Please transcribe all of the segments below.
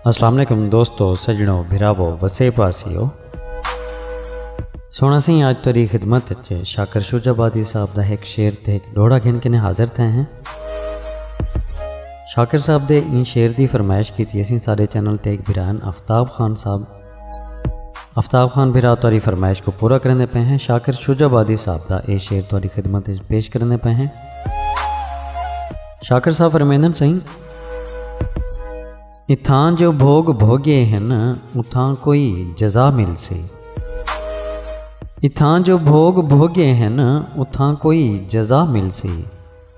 السلام علیکم دوستو سجنو بھراو وسے پاسیو سونا سی آج تری خدمت اچھے شاکر شوج آبادی صاحب دا ایک شعر تے ایک ڈوڑا گھن کے نے حاضر تھے ہیں شاکر صاحب دے ان شعر دی فرمائش کی تھی اسی سارے چینل تے ایک بھران افتاب خان صاحب افتاب خان بھرا تاری فرمائش کو پورا کرنے پہ ہیں شاکر شجہ بادی صاحب دا اے شعر تاری خدمت پیش کرنے پہ ہیں شاکر صاحب فرمیندن سہی اتھاں جو بھوگ بھوگے ہیں اتھاں کوئی جزا مل سی اتھاں جو بھوگ بھوگے ہیں اتھاں کوئی جزا مل سی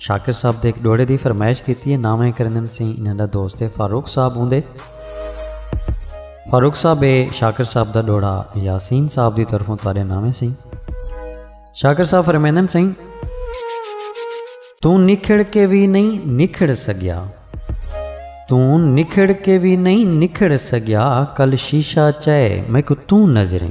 شاکر صاحب دے ایک ڈوڑے دی فرمائش کیتی ہے ناویں کرندن سیں انہاں دا دوست ہے فاروق صاحب ہوندے فاروق صاحب ہے شاکر صاحب دا ڈوڑا یاسین صاحب دی طرفوں تارے ناویں سیں شاکر صاحب فرمیندن سیں توں نکھڑ کے بھی نہیں نکھڑ سگیا توں نکھڑ کے بھی نہیں نکھڑ سگیا کل شیشہ چائے میں کو توں نظریں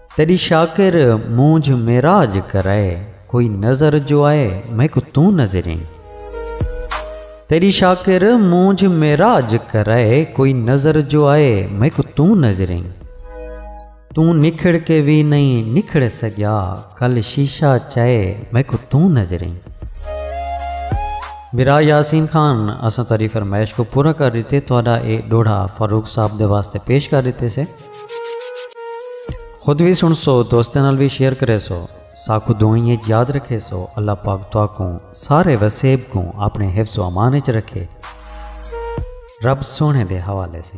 تیݙی شاکر مونجھ معراج کرائے کوئی نظر جو آئے میکوں توں نظریں تیݙی شاکر مونجھ معراج کرائے کوئی نظر جو آئے میکوں توں نظریں توں نکھڑ کے وی نہیں نکھڑ سگیا کل شیشہ چائے میکوں توں نظریں میرا یاسین خان اساں تاری فرمائش کو پورا کر دیتے تہاڈا اے ڈوڑھا فاروق صاحب دے واسطے پیش کر دیتے سے خود وی سن سو دوستیں نال وی شیئر کرے سو ساکو دعائیں اچ یاد رکھے سو اللہ پاک تو کو سارے وسیب کو اپنے حفظ و امان اچ رکھے رب سونے دے حوالے سے